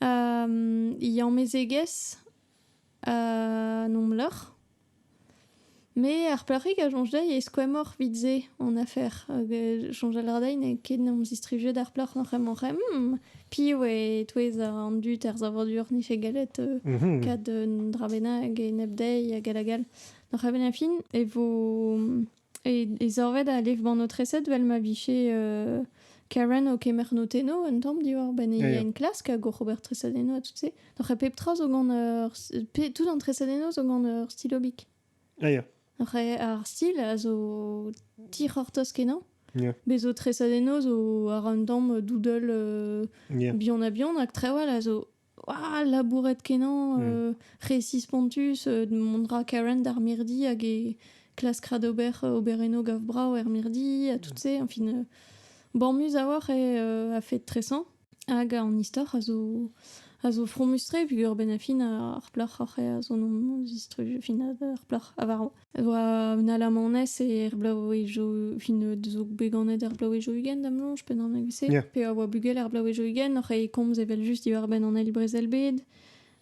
Um, he amezegez uh, nom loc'h Me ar plac'hig a soñj dezhi e skoemmoc'h 'vit se hon afer. Hag soñjal a ra dezhi n'eo ket 'n em zistrijet ar plac'h oc'h emañ oc'h emañ. Piv eo e-touez an dud er savadur n'efe gallet kat un dra bennak enep dezhi hag all hag all. D'ar c'hemenn a fin e vo e savet a lev-banotreset 'vel ma vije Karen o kemer notennoù un tamm diwar-benn he enklask hag oc'h ober tresadennoù ha tout se. Doc'h pep tra zo gant ur... Tout an tresadennoù zo gant ur stil obik. Ah, ya. Ar stil a zo tic'hortoz kenañ. Yeah. Bez zo tresadennoù zo ar un tamm doudel euh, yeah. bihan a bihan, hag trawal a zo ah, labouret kenañ, mm. euh, récits spontus, euh, mondra Karen d'ar mirdi hag e klas kradober euh, oberenno gav brao er mirdi, a tout mm. se, en fin, euh, bormus a oar e euh, a fait tressant. Hag an istor a zo a zo fromus-tre peogwir benn-ar-fin ar plac'h oc'h eo a zo nom zistruj fin ar plac'h a varv. A oa un alamanez e er bloavezhioù fin zo bet ganet er bloavezhioù ugent da'm soñj pe naoneg evese. Yeah. Pe a oa bugel er bloavezhioù ugent oc'h e komz evel-just diwar-benn an eil brezel-bed.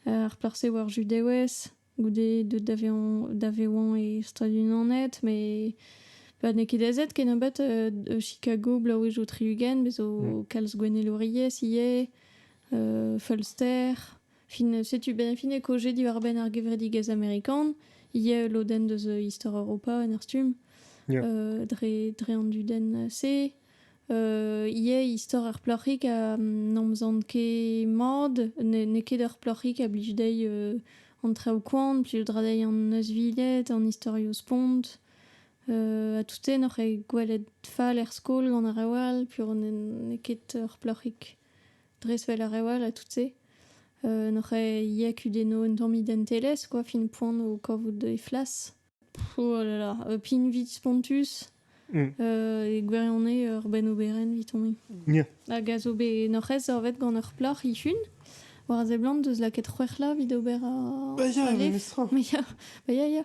Ar plac'h-se a oa ur Judewez. goude deut da vezañ da vezañ e Stadoù-Unanet met pa n'eo ket aezet kennebeut euh, Chicago bloavezhioù tri-ugent bez zo mm. kalz gouennelouriezh ivez euh, feulster fin setu ben fin e koje diwar-benn ar gevredigezh amerikan ivez lodenn deus istor Europa en ar stumm yeah. euh, dre dre an dudenn se ivez istor ar plac'hig ha n'omzan ket mat. N'eo ket ur plac'hig a blij dezhi an traoù koant, plij dra dezhi an neuzviled, an istorioù spont. ha tout-se n'oc'h ket gwelet fall er skol gant ar rev all, piv n'eo ket ur plac'hig dres 'vel ar rev all ha tout-se. n'oc'h ket ivez kudennoù un tamm identelezh, quoi, fin poan o kavout he flas. Oh là là, euh, pin vit spontus, Mm. euh, e gwirionez ur benn oberenn vitomp-i. Ja. Hag a zo bet norc'hez zorvet gant ur plac'h ihun, war a seblant deus lakaet c'hwec'hla vit ober a... Ba ya, a ref. memes tra. Mais ya, bah ya, ya.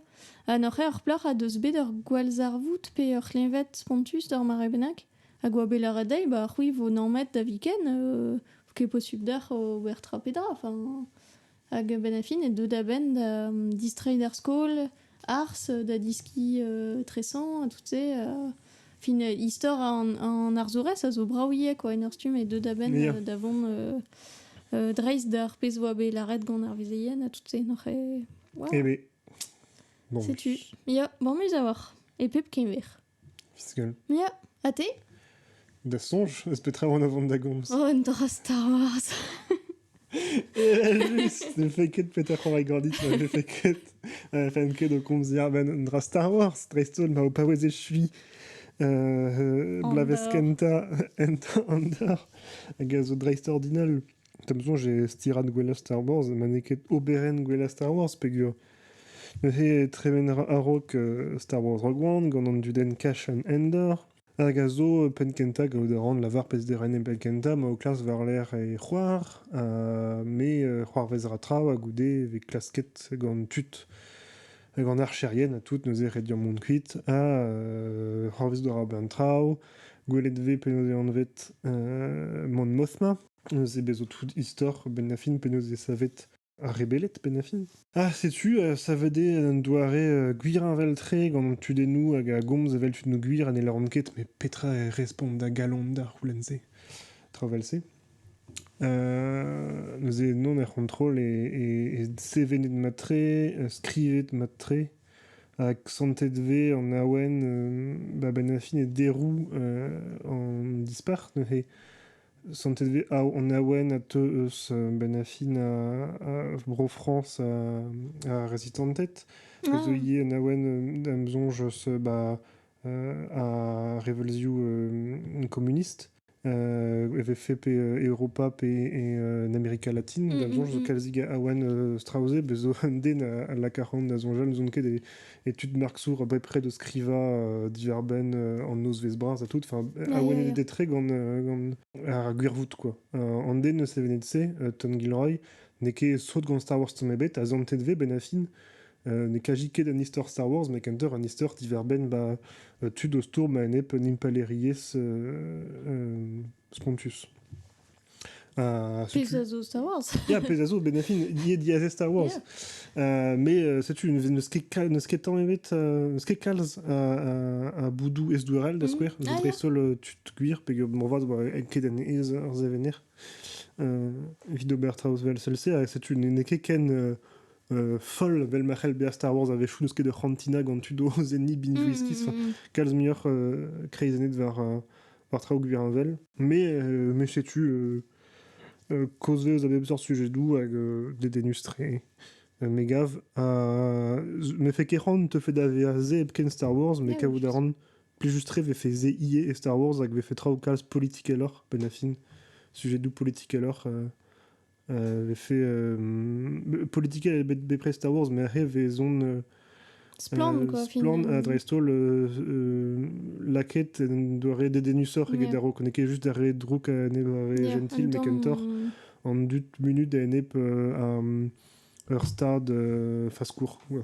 Ha norc'he ur plac'h a deus bet ur gwallzarvoud pe ur c'hleñved spontus d'ur mare bennak, hag oa bet lâret dezhi, bah c'hwi vo nammet da viken, euh, ket posubl d'ac'h ober tra pe dra, enfin... Hag a-benn a fin, e deu da benn da distreiñ d'ar skol, ars, da diskiñ euh, tresañ, tout se. euh, fin, euh, istor an, an arzourez a zo brav ivez, quoi, en ur stumm, et deu da benn Yeah. euh, da vont euh, euh, dreist d'ar pezh oa bet lâret gant ar vezeien, ha tout se, n'oc'h eo... Wow, Eh ben. Bon, Setu. Ya, bon, muz a-walc'h. E pep keñver. Fiskel. Ya, ha te? Da soñj eus petra oan o vont da gomz. Oh, un dra Star Wars. Evel-just, ne fait ket Peter Corey Gordit, ne fait ket. Ne fait ket o komzier ben un dra Star Wars, dreist-holl ma o paouez echuiñ euh, euh, bloavezh kentañ Enter Under, hag a zo dreist-ordinal. Da'm soñj e stirad gwellañ Star Wars ma n'eo ket oberenn gwellañ Star Wars peogwir neuze e tremen a-raok Star Wars Rogue One gant an dudenn Cash and Endor hag a zo penn-kentañ gavout a ran lavar pezh-derenn penn-kentañ ma o klask war-lerc'h e c'hoar ha me c'hoarvez ra traoù ha goude e vez klasket gant tud hag an archerien ha tout neuze rediañ mont kuit ha c'hoarvez d'ober an traoù gwelet 'vez penaos eo anvet Monmouth-ma. Neuze bezo tout istor Benafin penaos eo savet ar rebeled Benafin. Ah, setu, euh, savet eo un doare euh, gwir heñvel-tre gant an tudennoù hag a gomz evel tud no gwir ha ne lâront ket, mais petra e respont da galon da c'houlenn-se, tra vel-se. Euh, neuze non er c'hontrol e, e, e sevenet mat-tre, euh, skrivet mat-tre, hag santet vez an awen euh, ba Benafin e derou euh, an dispac'h neuze. Santet vez Ao an Awen a teu eus benn-ha-fin Bro-Frañs ar rezitanted. A zo ivez an Awen am soñj eus ba ar reveulzioù komunist e vefe pe Europa pe en Amerika Latin. Da'm soñj zo kalzik a Awen Strausé, bez' zo un den a laka c'hoant da soñjal n'ouzon ket e études Marxour bepred skrivañ diarbenn en nozvezh bras à tout. Enfin, a oe des très gant, gant ar gwirvoud quoi. an den eus sevenet-se, Tom Gilroy, n'e ket sot gant Star Wars tamm ebet, a zantet vez benafin euh, ne kaji ket an istor Star Wars, mais kentoc'h an istor diverbenn ba euh, tud o stourm a-enep un impalaeriezh euh, spontus. Euh, Pez a zo Star Wars. yeah, pez a zo benefin die diese Star Wars. Euh, mais euh, setu ne sketañ evet euh, kalz a boudou esdouarel da mhm. skouer zo dreist-holl euh, tud gwir peg morvat ba ket en ez ar zevener evit ober traoù vel sel-se ha setu n'e ket ken foll vel ma c'hell bezañ Star Wars a vechou n'eus ket ur c'hantina gant tud o zenni binge mhm. whisky kalz muioc'h kreizennet war par traoù heñvel. Mais, mais setu causez a bep seurt sujedoù hag dedennus tre. Me gav. Me fe ket c'hoant te fe da vezañ se hepken Star Wars, mais kavout a ran plijus tre vefe se ivez e Star Wars hag vefe traoù kalz politikeloc'h, benn a fin, sujedoù politikeloc'h euh, vefe euh, politikel bet bepred Star Wars, mais re vezon euh, Splann, quoi, Splann, euh, dreist-holl, euh, euh, laket en doa re dedenusoc'h eget yeah. ne ket just re drouk a enep re yeah, gentil, met kentoc'h an dut munut a enep euh, ar, ur stad euh, faskour. Ouais.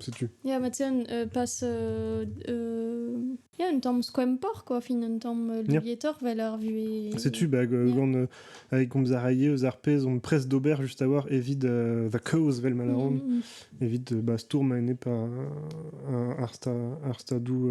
Setu. Ya, ma teu un euh, pas euh, euh, ya, un tamm skoempor, quoi, fin, un tamm euh, lietoc'h vel ar vuhez. Setu, bah, gant euh, avec Gomzaraye eus ar pez on presse d'ober juste avoir évite euh, the cause vel malaron mm. évite bah, stourm ene pa ar sta ar stadou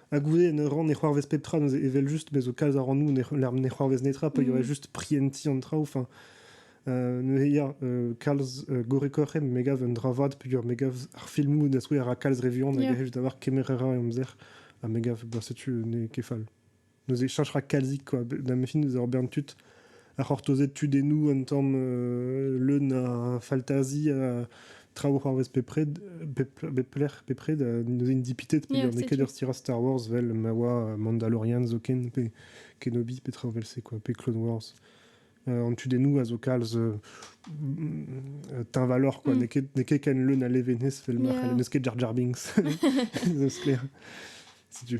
Ha goude, ne ran ne c'hoarvez pep tra, evel just, me zo kalz a ran nou, ne c'hoarvez netra, pa mm. juste prienti an traoù, enfin, euh, neuze ya, euh, kalz euh, gorekorren me gav un dra vat peogwir me gav ar filmoù da skouer a kalz revion yeah. hag a d'avoir kemerera e amzer ha me gav bah setu ne ket fall neuze changera kalzik quoi da mes films d'avoir bern tud ar c'hortozed tudennoù un tamm leun a faltazi a traoù c'hoarvez bepred bep lec'h bepred a n'int dipitet peogwir n'eo ket ur stirad Star Wars vel ma oa Mandalorian zoken pe Kenobi petra vel-se quoi pe Clone Wars an tudennoù a zo kalz teñvaloc'h quoi n'eo ket n'eo ket ken leun a levenez vel ma c'hellent n'eus ket Jar Jar Binks n'eus sklaer setu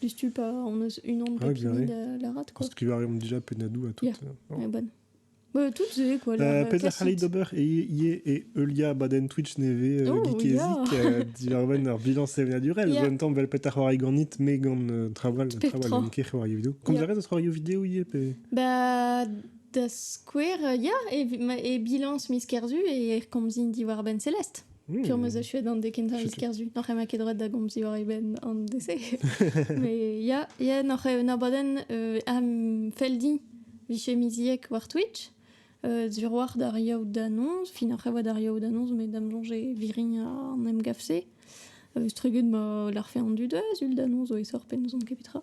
Diouzhtu pa on eus unan ah, pep da lârat quoi. Skrivañ a reomp déjà Penadou à toutes. Yeah. Oh. bonne. Ouais, toutes c'est quoi euh, Peter Khalid Ober et Ie et Eulia Baden Twitch Neve euh, Gekizik euh, diverven ar bilan sevenadurel. En même temps, bel petar c'hoari ganit me gant traval traval ket c'hoari vidéo. Comme yeah. dirait, c'hoari vidéo Ie pe Bah da skouer, ya, et, et bilans mis kerzu et komzin diwar Ben Celeste. Hmm. Fur ma achuet an de kentañ vis kerzhu n'oc'h ema ket droed da gomz diwar e benn an dese mais ya ya n'oc'h un abadenn euh, am feldi vije miziek war Twitch euh, diwar d'ar yaout d'annonz fin oc'h evoa d'ar yaout d'annonz met dam soñje virin an em gavse euh, struget ma larfe an du da zul d'annonz o e sor pe n'ouzon ket petra